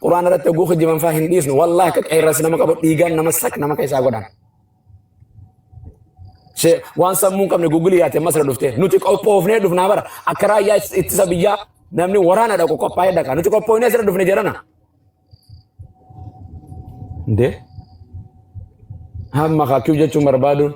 Qur'aana irratti oguu kijiban faa hin dhiisnu. Wallaahi akka qeerransi nama qabu dhiigaan nama sak nama keessaa godhan. Shee- Waan sammuu hin qabne Google yaate masra dhufte. Nuti qophoofnee dhufnaa bara. Akka raayyaa is- ittisa biyyaa namni waraana dhaqu qophaa'ee dhaqa. Nuti qophoofnee asirra dhufne jedhana. Indee? Hamma kakkuu jechuun barbaaduun.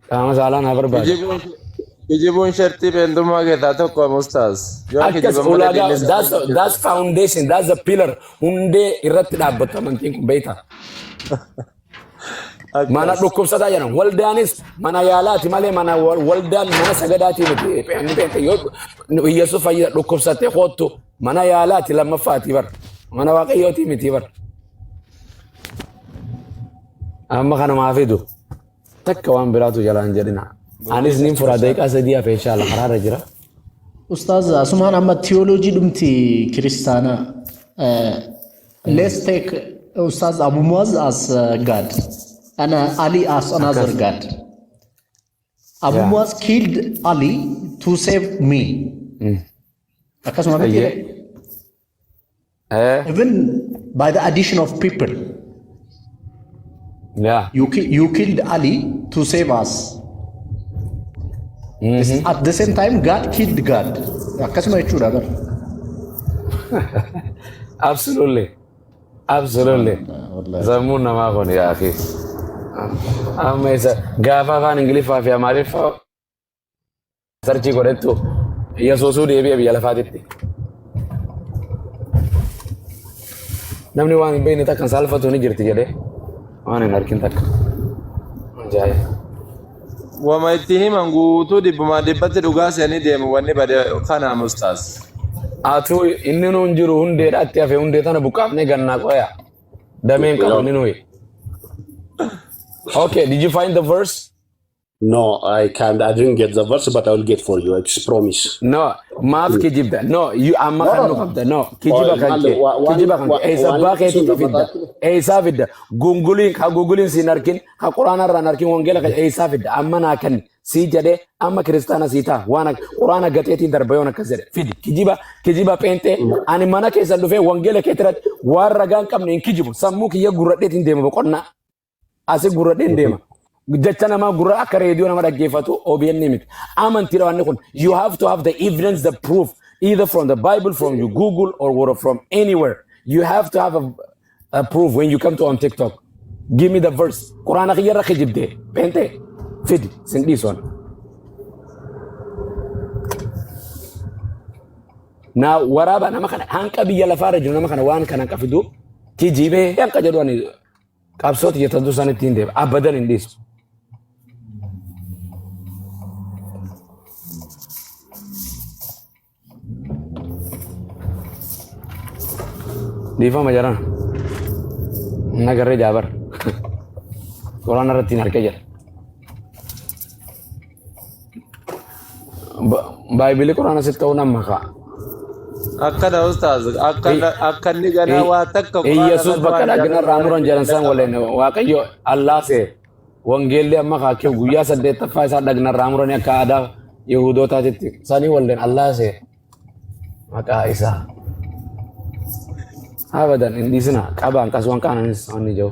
Qaama saalaa naa barbaada. Kijibuun kijibuun shartii beentummaa keessaa tokko mustaas. Yoo Akkas kijiban malee ulaagaa diinni that's safuu hin that's foundation that's the pillar hundee irratti dhaabbattu amantiin kun beekta. Mana Akkas. dhukkubsataa jedhan waldaanis mana yaalaati malee mana wal- waldaan mana sagadaati miti. Inni beekta yoo Yesuus fayyisa dhukkubsattee koottu mana yaalaati lammaffaati bar. Mana waaqayyooti miti bar. Amma kana maa fidu. Takka waan biraatu jalaan jedhina. Anis nin fura daqiiqaa sadii hafe inshaalla karaarra jira. Ustaaz asumaan amma tiyooloojii dhumti kiristaanaa. Uh, let's take Ustaaz Abu Muaz as uh, God and uh, Ali as another Akkas. God. Abu Yeah. Muaz killed Ali to save me. Akkasuma miti Ayyee. Eh, even by the addition of people yeah. you, ki- you killed ali to save us at the same time god killed god akkasuma jechuudha bar Absolutely. Absolutely. wallahi. Zammuun namaa kun yaa akhi. Amma isa gaafa afaan Ingiliffaa fi Amaariffaa sarchii godhettu yesuusuu deebi'e biyya lafaatitti. Namni waan hin beekne takka saalfatu ni jirti jedhee waan hin argin takka. Ajaa'iba. Wama itti himan guutuu dhibbumaa dhibbatti dhugaa se'anii deemu wanni bade kana mustaas. Atuu inni nuun jiru hundee dhaatti hafe hundee tana buqqaafnee gannaa qoya. Dameen qabu inni nuyi. Okay, did you find the verse? No, I can't. I didn't get the verse, but I will get for you. It's promise. No, maaf kijibda. No, you amma No, kan no, nu no. qabda. No, kijiba Oil, kan maal kee. wa- waan Kijiba kan wa- kee. Eessa waan abbaa keetii sun fidda. lafataa Eessaa fidda. Gunguliin ka gunguliin siin arkin ka quraana irraan arkin wangeela kan eessaa fidda. Amma naa kan sii jedhee amma kiristaana sii ta'a. Waan ak- quraana gateetiin darba yoon akkas jedhe. Fidi. Kijiba kijiba pheenxee. Ani mana keessan dhufee wangeela keetirratti waan ragaan qabne hin kijibu. Sammuu kiyya gurradheetiin deema boqonnaa. Asi gurra dheen deema. Jecha namaa gurra akka reediyoo nama dhaggeeffatu OBN miti. Amantiidha wanni kun. You have to have the evidence, the proof, either from the Bible, from your Google, or word from anywhere. You have to have a, a proof when you come to on TikTok. Give me the verse. Quraana kiyya irra kijibde. Beente. Fidi. Sin dhiisoon. Naa waraaba nama kana hanqa biyya lafaa irra jiru nama kana waan kana hanqa fidu kijibee hanqa jedhu ani Qabsoo tiyya tan dursan ittiin deema. Abadan hin dhiisu. Dhiifama jarana. Nagarree jaabar. Qoraan irratti hin harkee jira. Baay'ee quraana sitti ta'uu nan makaa. Akkana ustaaz akkana akka inni ganaa waa takka quraana Iyyesuus irratti bakka waan dhagna jaarraa irraa muran jedhan san waliin waaqayyo allaa see wangeelli amma kaakee guyyaa saddeettaffaa isaa dhagna irraa muranii akka aadaa Yihudootaatitti sanii waliin allaa see maqaa isaa abadan hin dhiisina qabaan qaswan qaananis wanni jiru.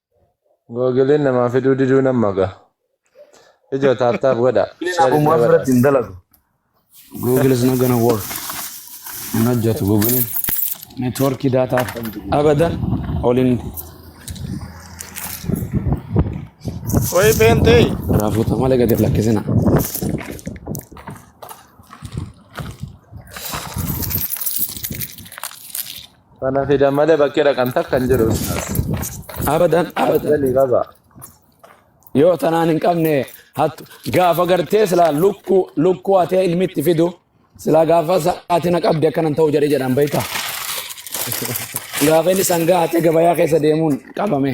Googileen namaa fiduu diduu nan maga. Ijoo taaptaap godha. Inni Share naaf godha. biratti hin dalagu. Google is not gonna work. Hin hojjetu Google. Networkii daataa abadan oliin Wayii peentee. raafuuta malee gadi hin lakkisina. Sana fidan malee bakkee dhaqan takka hin jiru ustaaz. Abadan abadan. Galii qaba. Yoo tanaan hin qabne hattu gaafa gartee silaa lukkuu lukkuu hatee ilmitti fidu silaa gaafa sa'aatii na qabde akkanan ta'u jedhee jedhan beektaa. Gaafa inni sangaa hatee gabayaa keessa deemuun qabame.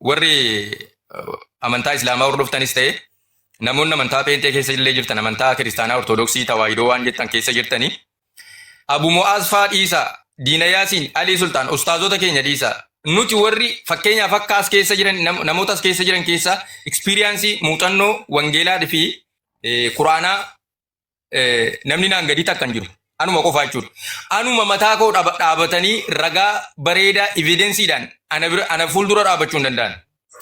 warri amantaa islaamaa hordoftanis ta'e namoonni amantaa peenxee keessa illee jirtan amantaa kiristaanaa ortodoksii tawaahidoo waan jettan keessa jirtanii abu mu'aaz faa dhiisaa diina yaasiin alii sultaan ustaazota keenya dhiisaa nuti warri fakkeenyaaf akka as keessa jiran nam- namoota as keessa jiran keessaa ekspiriyaansii muuxannoo wangeelaa fi quraanaa eh, namni naan gadii takka hin jiru. Anuma qofaa jechuudha. Anuma mataa koo dhaaba- dhaabatanii ragaa bareedaa evidensiidhaan ana bira ana fuuldura dhaabachuu hin danda'an.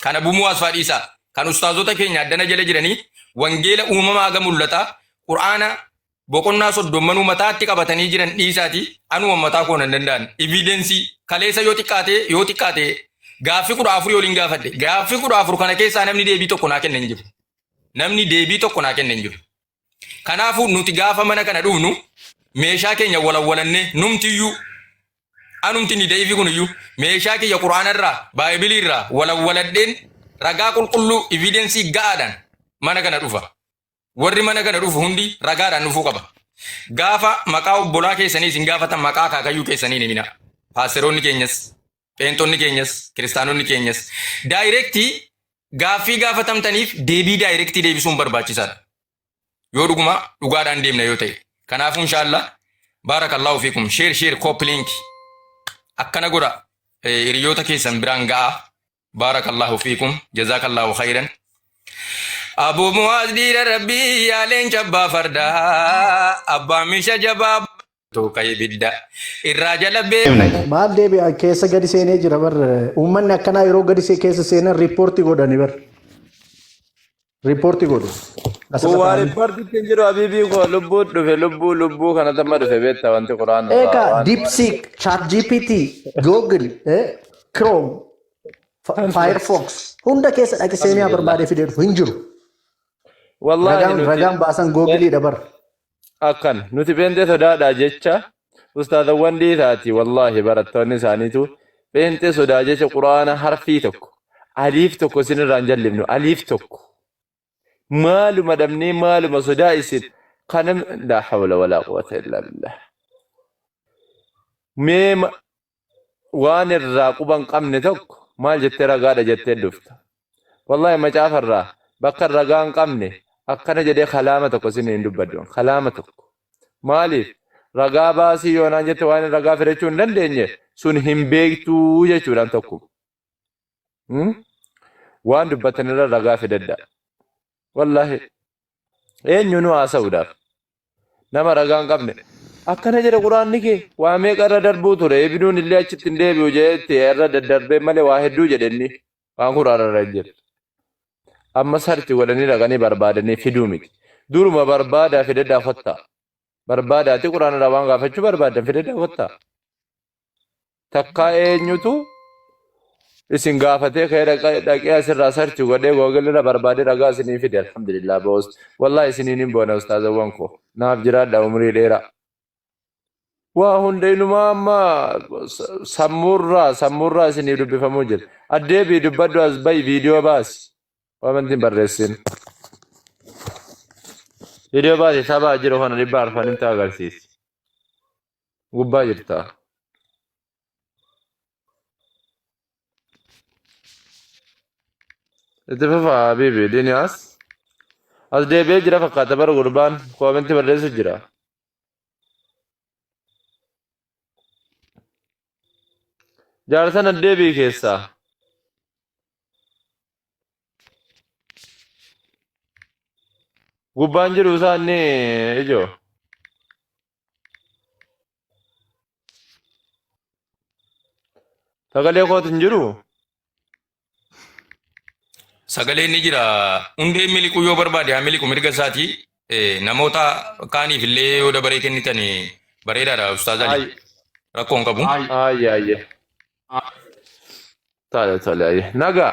Kana bumuu asfaa dhiisaa. Kan ustaazota keenya addana jala jiranii wangeela uumamaa haga mul'ataa qur'aana boqonnaa soddommanuu mataatti qabatanii jiran dhiisaati anuma mataa koo hin danda'an. Evidensii kaleessa yoo xiqqaate yoo xiqqaate gaaffii kudha afurii waliin gaafadhe. Gaaffii kudha afur kana keessaa namni deebii tokko naa kenna hin jiru. Namni deebii tokko naa kenne hin jiru. Kanaafuu nuti gaafa mana kana dhufnu meeshaa keenya walawwalannee numtiyyuu anumti ni da'iifi kuniyyuu meeshaa kiyya quraanarraa baaybiliirraa walawwaladheen ragaa qulqulluu evidensii ga'aadhaan mana kana dhufa. Warri mana kana dhufu hundi ragaadhaan dhufuu qaba. Gaafa maqaa obbolaa keessanii isin gaafatan maqaa akaakayyuu keessanii hin himinaa. Paasteroonni keenyas Pheentonni keenyas, kiristaanonni keenyas daayirektii gaaffii gaafatamtaniif deebii daayirektii deebisuun barbaachisaadha. Yoo dhuguma dhugaadhaan deemna yoo ta'e. Kanaafuu inshaallah baarakallaahu fiikum sheer sheer kooppiliinki akkana godha eh, hiriyoota keessan biraan ga'a. Baarakallaahu fiikum jazaakallaahu khayran. Abuu Muwaaz dhiira rabbii yaa leenca abbaa fardaa abbaa misha jabaa Tuuqa ibidda irraa jala beekna. Maal deebi'an keessa gadi seenee jira bar uummanni akkanaa yeroo gadi see keessa seenan riippoortii godhani bar riippoortii godhu asirra Kuwaa taa'anii. riippoortiitti hin jiru abiibii koo lubbuu dhufe lubbuu lubbuu kana tamma dhufe beekta wanti quraan irraa Egaa waan DeepSeek, ChatGPT, Google, eh, Chrome, Fi- Firefox hunda keessa dhaqi seenaa barbaadee fidee dhufu hin jiru. Wallaahi Ragaan nuti ragaan baasan Googleedha bar. akkan nuti pheenxee sodaadhaa jecha ustaazawwan dhiisaati wallaahi barattoonni isaaniitu pheenxee sodaa jecha quraana harfii tokko aliif tokko isin irraan jallifnu aliif tokko maaluma dhabnee maaluma sodaa isin kana laa hawla walaa quwwata illaa billah mee waan irraa quba hin qabne tokko maal jettee ragaadha jettee dhufta. Wallahi macaafa irraa bakka ragaa hin qabne akkana jedhee kalaama tokko isin hin dubbadhu. Kalaama tokko. Maaliif? Ragaa baasii yoonaan jette waan ragaa fidachuu hin dandeenye sun hin beektuu jechuudhaan tokko. Waan dubbattan irra ragaa fidadha. Wallaahi eenyuunuu haasa'uudhaaf nama ragaa hin qabne akkana jedha quraanni kee waa meeqa irra darbuu ture ibinuun illee achitti hin deebi'u jedhetti irra daddarbee malee waa hedduu jedhe inni waan quraana irra hin jiru. Amma sarchi godhanii dhaqanii barbaadanii fiduu miti. Duruma barbaadaa fidadhaa kottaa. Barbaadaati quraana irraa waan gaafachuu barbaaddan fidadhaa kottaa. takkaa eenyutu isin gaafatee kee dhaqee asirraa sarchi godhee googilirra barbaadee ragaa isinii fide alhamdulillah boos wallahi isiniin hin boona ustaazawwan koo naaf jiraadha umrii dheeraa waa hunda inumaa amma sammuurraa sammuurraa isinii dubbifamuu jira addeebii dubbadhu as bayi viidiyoo baasi wamantiin barreessin viidiyoo baasi sabaa jiru kana dhibbaa arfan himta agarsiisi gubbaa jirta. Itti fufa Habiibi Diniyaas. As deebi'ee jira fakkaata bara gurbaan koomentii barreessu jira. Jaarsan addeebii keessaa. Gubbaan jiru isaa inni ijoo. Sagalee kootu hin jiru. Sagaleen ni jira. Hundeen miliquu yoo barbaade haa miliqu mirga isaati. Eh, Namoota kaaniif illee yoo dabaree kennitan eh, bareedaadha Ustaaz Ali. Ayi. Rakkoo hin qabu. Ayi. Ayi ayi. Tole tole ayi. Nagaa.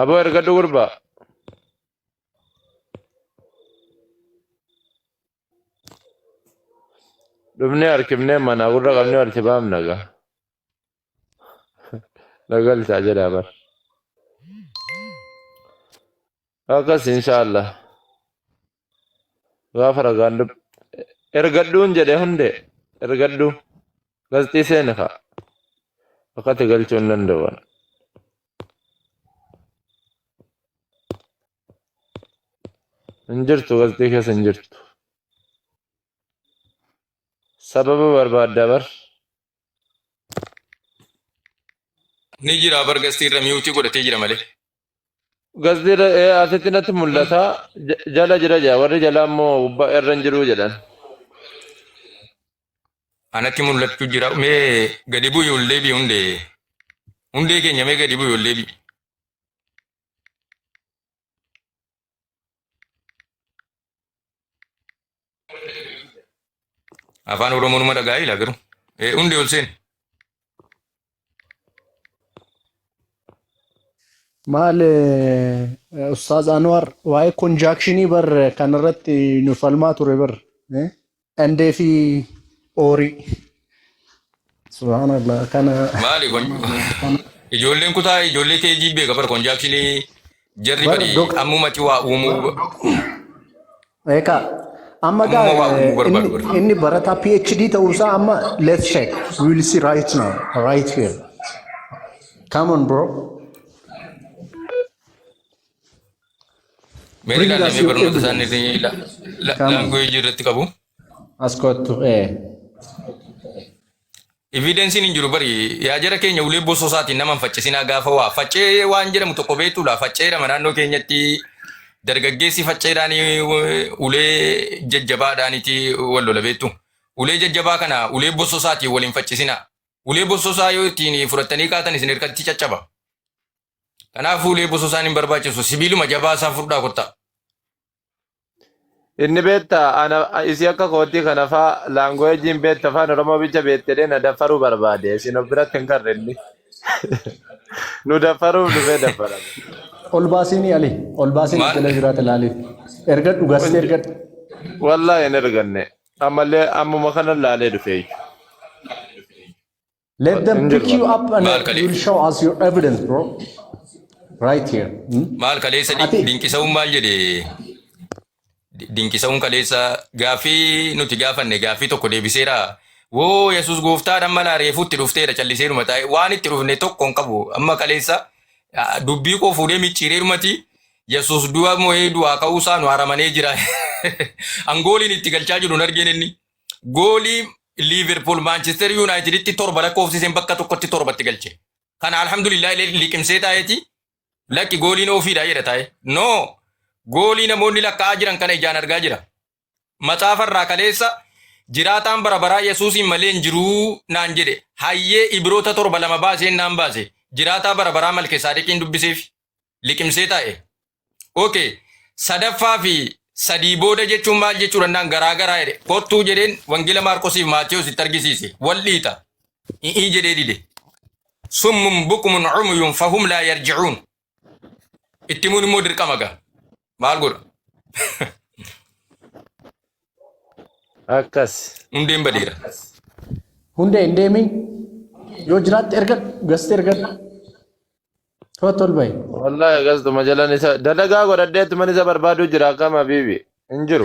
Aboo ergadhu gurba. Dhumni harkifnee mana gurra qabne walitti baamna gaa. Nagalchaa jedha bar. Akkas inshaallah. gaafa ragaan dub ergadhuun jedhe hundee ergadhu gazxii seene kaa akkati galchuu hin danda'uwan hin jirtu gazxii keessa hin jirtu sababa barbaadda bar Ni jira bar gastii irra miyuutii godhatee jira malee. Gasdiirra ee asitti natti mul'ata ja- jala jira jedha warri jalaa immoo gubbaa irra hin jiru jedhan. Anatti mul'achuu jira. Mee gadi bu'i ol deebi'i hundee. Hundee keenya mee gadi bu'i ol deebi'i. Afaan Oromoo numa dhagaa'ee ilaa garuu. Eh, Hundi ol seen. Maal eh, Ustaaz Anwar waa'ee konjaakshinii bar kanarratti nu falmaa ture bar. eh? Andee fi oorii. Subhaanallah kana. Maali kun? Ijoolleen kutaa ijoollee keejii beeka bar konjaakshinii jarri Bar bari dok- ammumatti waa uumuu Eekaa. Amma Amma gaa waa uumuu barbaadu inni, barbaadu. inni barataa PhD ta'uusaa amma let's check. We will see right now, right here. Come on bro. Mee Bring us ilaallee your barnoota isaanii evidence. irra la- Come on. language irratti qabu. As kottu. Eh. Evidensiin hin jiru bari yaa jara keenya ulee bosoo isaatiin nama hin faccisinaa gaafa waa faccee waan jedhamu tokko beektuudha faccee lama naannoo keenyatti dargaggeessi facceedhaan ulee jajjabaadhaaniti wal lola beektu ulee jajjabaa kana ulee bosoo isaatiin wal hin faccisinaa ulee bosoo isaa yoo ittiin fudhattanii kaatan isin hirkatti caccaba Kanaaf fuulee busuu isaan hin barbaachisu. Sibiiluma jabaa isaa furdaa kottaa. Inni beetta ana isii akka kootii kana faa laanguweejiin beetta afaan Oromoo bicha beettedhee na daffaruu barbaade isin of biratti hin garre inni nu daffaruuf dhufee daffarame. Ol baasiinii Ali. Ol baasiin Maal? ijolee biraati laali. Ergadhu gaste ergadhu. Wallaahi hin erganne ammallee ammuma kana laalee dhufee. Let them Injil pick you barbaada. up and Maal kalee? you will show us your evidence, bro. Right here. Hmm? Maal kaleessa di- Ati- dinqisa'uun maal jedhe? Di- Dinqisa'uun kaleessa gaaffii nuti gaafanne gaaffii tokko deebiseera. Woo Yesuus gooftaadhaan mana reefuutti dhufteera calliseeruma taa'e waan itti dhufne tokko hin qabu. Amma kaleessa ah, dubbii koo fuudhee micciireerumati Yesuus du'a moo'ee du'aa ka'uusaa nu haramanee jira. Angooliin itti galchaa jiru hin argeen inni. goolii Liiverpuul Maanchister Yuunaayitiditti torba lakkoofsiseen bakka tokkotti torbatti galche. Kana alhamdulillah illee liqimsee taa'eeti lakki gooliin ofiidha jedha taa'e. No goolii namoonni lakkaa'aa jiran kana ijaan argaa jira. Maxaafa irraa kaleessa jiraataan bara baraa Yesuusiin malee hin jiruu naan jedhe hayyee Ibiroota torba lama baaseen naan baase jiraataa bara baraa Malkesaadiqiin dubbiseef liqimsee taa'e. Ok sadaffaa fi sadii booda jechuun maal jechuu danda'an garaa garaa jedhe kottuu jedheen wangeela maarqosiif maatiyos itti argisiise wal dhiita i'ii jedhee dide summun bukumun cumuyun fahum laa yarjicuun itti himuun immoo dirqama ga maal godha Akkas. hundeen badeera Hundee hin deemiin yoo jiraatte ergadhu gasti ergadhu. Kottu ol bahi. Wallahi akkas tuma jalan isa dalagaa godhadheetti man isa barbaaduu jira akkam habiibi hin jiru.